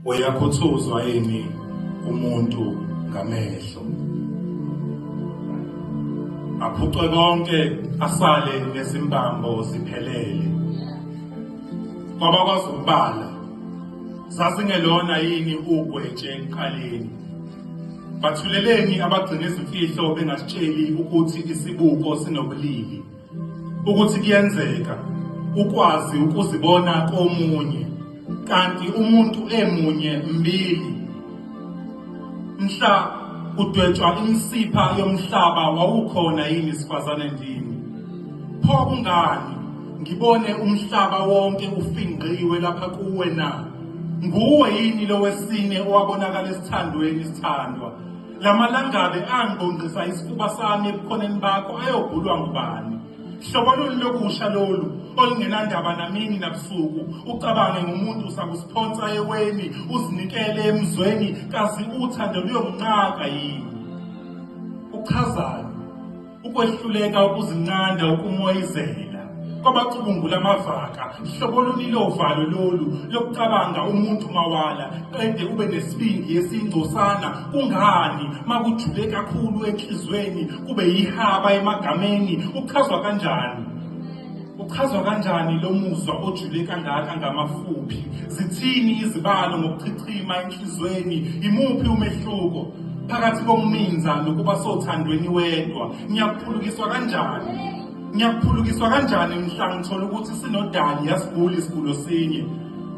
uyakhuthuzwa yini umuntu ngamehlo aphucwe konke asale nezimbambo ziphelele kwabakwazi ukubala sasingelona yini ugwetshe enkaleni bathuleleni abagcina izimfihlo bengasitsheli ukuthi isibuko sinobulili ukuthi kuyenzeka ukwazi ukuzibona komunye kanti umuntu emunye mbili mhla kudwetshwa imisipha yomhlaba wawukhona yini sifazane ndini pho kungani ngibone umhlaba wonke ufingqiwe lapha kuwe na nguwe yini lowesine owabonakala esithandweni sithandwa La malangabi angibongqisa isifuba sami ebukhoneni bakho ayobhulwa ngubani? Hlobo luni lokusha lolu olungenandaba namini nabusuku ucabange ngomuntu usakusiphonsa eweni uzinikele emzweni kazi uthando luyomnqaka yini? Uchazani? ukwehluleka ukuzinqanda ukumoyizela kwabacubungula amavaka hlobo luni lovalo lolu lokucabanga umuntu mawala qede ube nesibindi esingcosana kungani makujule kakhulu enhlizweni kube yihaba emagameni uchazwa kanjani Uchazwa kanjani lo muzwa ojule kangaka ngamafuphi? Zithini izibalo ngokuchichima enhlizweni? Imuphi umehluko phakathi kokuminza nokuba sothandweni wedwa? Ngiyakuphulukiswa kanjani? Ngiyakuphulukiswa kanjani mhla ngithola ukuthi sinodali yasiguli isigulo sinye?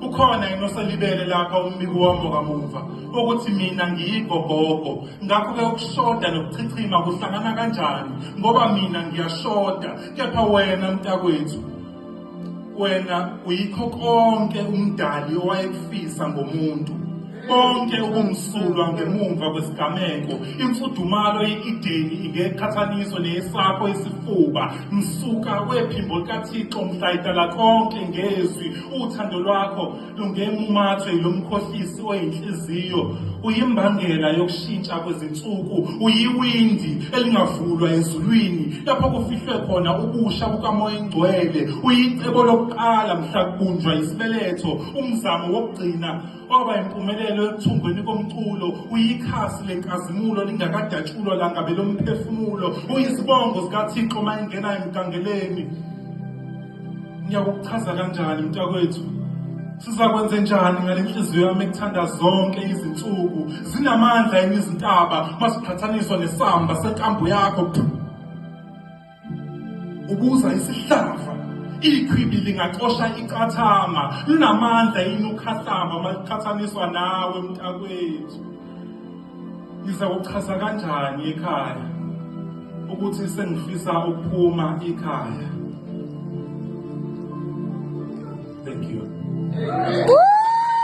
ukhona yini oselibele lapha umbiko wami wakamuva ukuthi mina ngiyigogogo ngakho-ke ukushoda nokuchichima kuhlangana kanjani ngoba mina ngiyashoda kepha wena mntakwethu wena uyikho konke umdali owayekufisa ngomuntu konke ubumsulwa ngemumva kwesigameko imfudumalo ye-ideni ingeqhathaniso neyesakho isifuba msuka wephimbo likathixo mhlayidala konke ngezwi uthando lwakho Lungemumathwe yilomkhohlisi oyinhliziyo uyimbangela yokushintsha kwezinsuku uyiwindi elingavulwa ezulwini lapho kufihlwe khona ubusha bukamoya engcwele uyicebo lokuqala mhla kubunjwa isibeletho umzamo wokugcina waba impumelelo ekuthungweni komculo uyikhasi lenkazimulo lingakadatshulwa langabe lomphefumulo uyizibongo zikathixo uma engena emgangeleni ngiyakuchaza kanjani mntakwethu sizakwenze njani ngale nhliziyo yami ekuthanda zonke izinsuku zinamandla yini izintaba masiqhathaniswa nesamba senkambo yakho ubuza isihlava ikhwibi lingacosha icathama linamandla yini ukhahlamba maliqhathaniswa nawe mntakwethu Ngizawuchaza kanjani ikhaya ukuthi sengifisa ukuphuma ikhaya? Thank you.